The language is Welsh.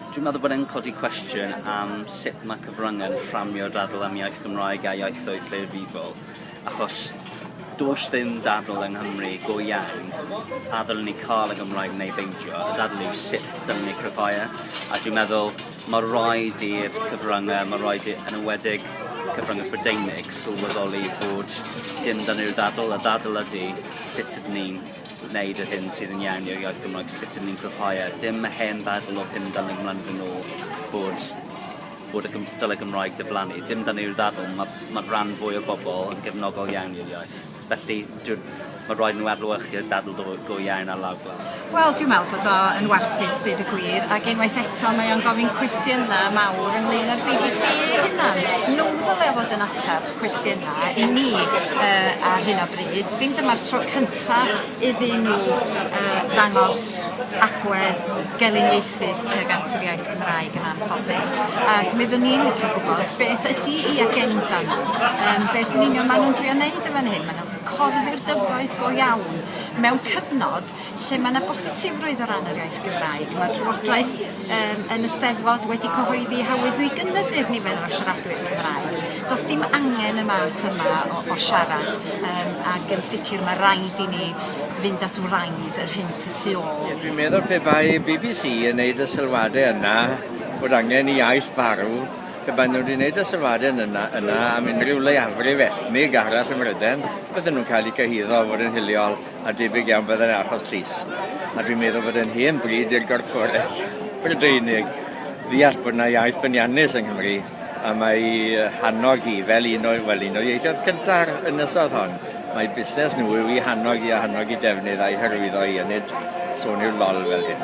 Dwi'n meddwl bod e'n codi cwestiwn am sut mae cyfryngau'n fframio'r ddadl am iaith Gymraeg a ieithoedd lleiafrifol, achos does dim dadl yng Nghymru go iawn a ddylwn ni cael y Gymraeg neu beidio, y dadl yw sut dylwn ni cryfhau e, a dwi'n meddwl mae rhaid i'r cyfryngau, mae rhaid i, yn ywedig cyfryngau Prydeinig, sylweddoli bod dim dan ni'r ddadl, y ddadl ydy sut ydyn ni'n wneud yr hyn sydd yn iawn i'r iaith Gymraeg, sut ydyn ni'n cryfhau e. Dim y hen ddadl o 50 mlynedd yn ôl bod bod y dylai Gymraeg diflannu. Dim dan ni'r ddadl, mae ma rhan fwy o bobl yn gefnogol iawn i'r iaith. Felly, mae rhaid nhw adlewyrchu'r dadl go, go iawn ar lawr gwlad. Wel, dwi'n meddwl bod o yn warthus, dweud y gwir, ac unwaith eto mae o'n gofyn cwestiynau mawr ynglyn â'r BBC ei hunan. Nhw ddylai fod yn ateb. cwestiynau i ni yy ar hyn o bryd. Dim dyma'r tro cynta iddyn nhw yy ddangos agwedd geliniaethus tuag at yr iaith Gymraeg yn anffodus a mi oeddwn i'n licio gwybod beth ydi i agenda nhw yym beth yn union ma' nhw'n drio neud yn fan hyn ma' nhw'n corddi'r dyfroedd go iawn mewn cyfnod Lle mae yna bositifrwydd o ran yr iaith Gymraeg, mae'r Llywodraeth yym yn y Steddfod wedi cyhoeddi hawlio i gynyddu'r nifer o siaradwyr Cymraeg. Does dim angen y math yma o, o siarad yym ac yn sicr mae rhaid i ni fynd at wraidd yr hyn sy tu ôl. Ie, dwi'n meddwl pe bai bbc yn neud y sylwadau yna bod angen i iaith farw, pe baen nhw wedi neud y sylwadau yn yna, yna am unrhyw leiafrif ethnig arall ym Mhryden, bydden nhw'n cael eu cyhuddo o fod yn hiliol. a debyg iawn byddai'n achos llys, a dwi'n meddwl bod e'n hen bryd i'r gorfforaeth Brydeinig ddeall bod yna iaith ffyniannus yng Nghymru, a mae hannog hi fel un o'i, wel, un o'r ieithoedd cynta'r ynysodd hon. Mae busnes nhw yw i hannog hi a hannog ei defnydd a'i hyrwyddo hi, a nid sôn i'w lol fel hyn.